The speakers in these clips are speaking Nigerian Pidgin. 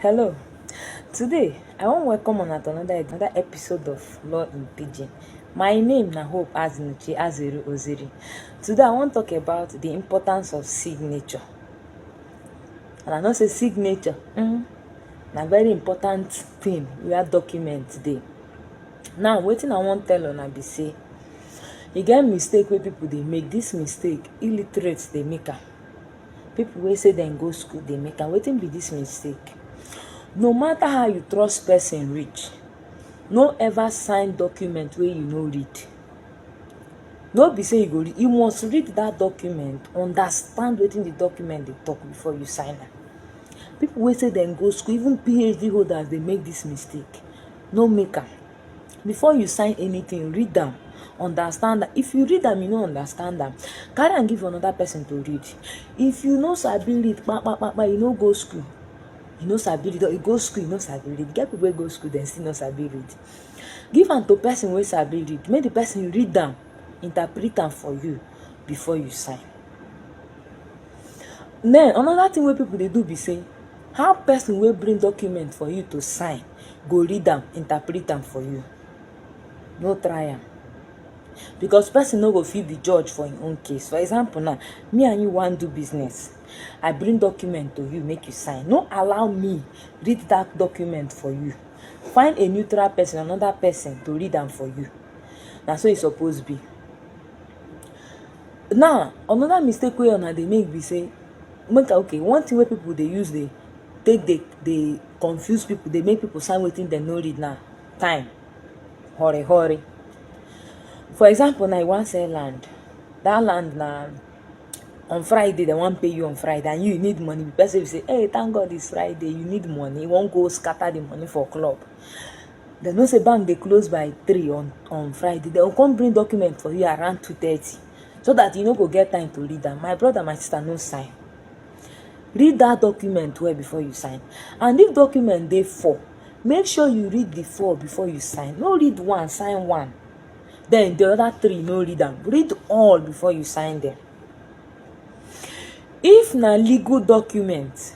Hello. Today, I wan welcome una to another another episode of Law in Pidgin. My name na Hope Azinuchi Aziru Oziri. Today, I wan talk about the importance of signature. And I know say signature mm, na very important thing where document dey. Now, wetin I wan tell una be say e get mistake wey people dey make. This mistake, illiterate dey make am. People wey say dem go school dey make am. Wetin be this mistake? No matter how you trust person reach, no ever sign document wey you no read. No be say you go read, you must read that document, understand wetin the document dey talk before you sign am. People wey say dem go school, even PhD holders dey make this mistake. No make am. before you sign anything read am understand am if you read am you no understand am carry am give another person to read if you no sabi read kpakpakpa you no go school you no sabi read or you go school you no sabi read get people wey go school dem still no sabi read give am to person wey sabi read make the person read am interpret am for you before you sign then another thing wey people dey do be say How person wey bring document for you to sign go read am, interpret am for you? No try am. Because person no go fit be judge for im own case. For example now, me and you wan do business. I bring document to you make you sign. No allow me read that document for you. Find a neutral person, another person to read am for you. Na so e suppose be. now another mistake wey una dey make be say make i okay one thing wey people dey use dey take dey dey confuse people dey make people sign wetin dem no read na time hurry hurry for example now you wan sell land that land na on friday dem wan pay you on friday and you you need money the person be say hey thank God it's friday you need money you wan go scatter the money for club They know say bank dey close by three on on friday They will come bring document for you around two thirty so that you no go get time to read am my brother my sister no sign read that document well before you sign and if document dey four make sure you read the four before you sign no read one sign one then the other three no read am read all before you sign them if na legal document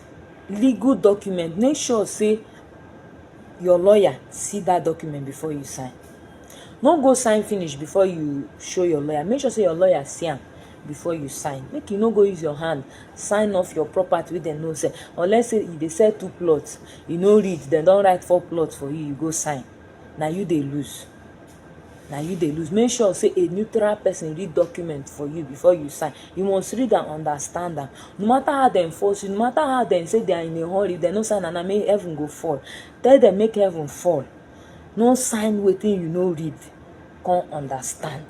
legal document make sure say your lawyer see that document before you sign no go sign finish before you show your lawyer make sure say your lawyer see am before you sign make you no go use your hand sign off your property wey dem no sell unless say you dey sell two plots you no read dem don write four plots for you you go sign na you dey lose na you dey lose make sure say a neutral person read document for you before you sign you must read and understand am no matter how dem force you no matter how dem say they are in a hurry if dem no sign am na make heaven go fall tell dem make heaven fall no sign wetin you no read come understand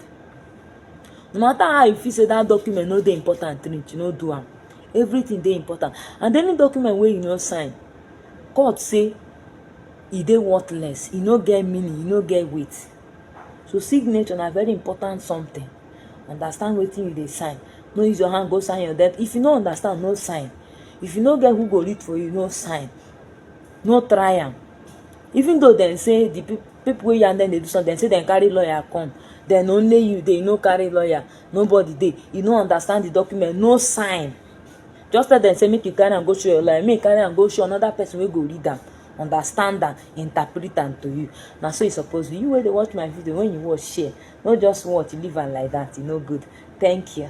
no matter how you feel say that document no dey important reach no do am everything dey important and any document wey you no sign court say e dey worthless, e no get meaning, e no get weight. So signature na very important something, understand wetin you dey sign, no use your hand go sign your death, if you no understand no sign, if you no get who go read for you no sign, no try am. Even though dem sey de pipu pipu wey yarn dem dey do something dem sey dem carry lawyer come, den only you dey, you no carry lawyer, nobody dey, you no understand de document, no sign. just tell dem say make you carry am go show your lawyer make you carry am go show another person wey go read am understand am interpret am to you na so e suppose be you wey dey watch my video when you watch share no just watch leave am like that e no good thank you.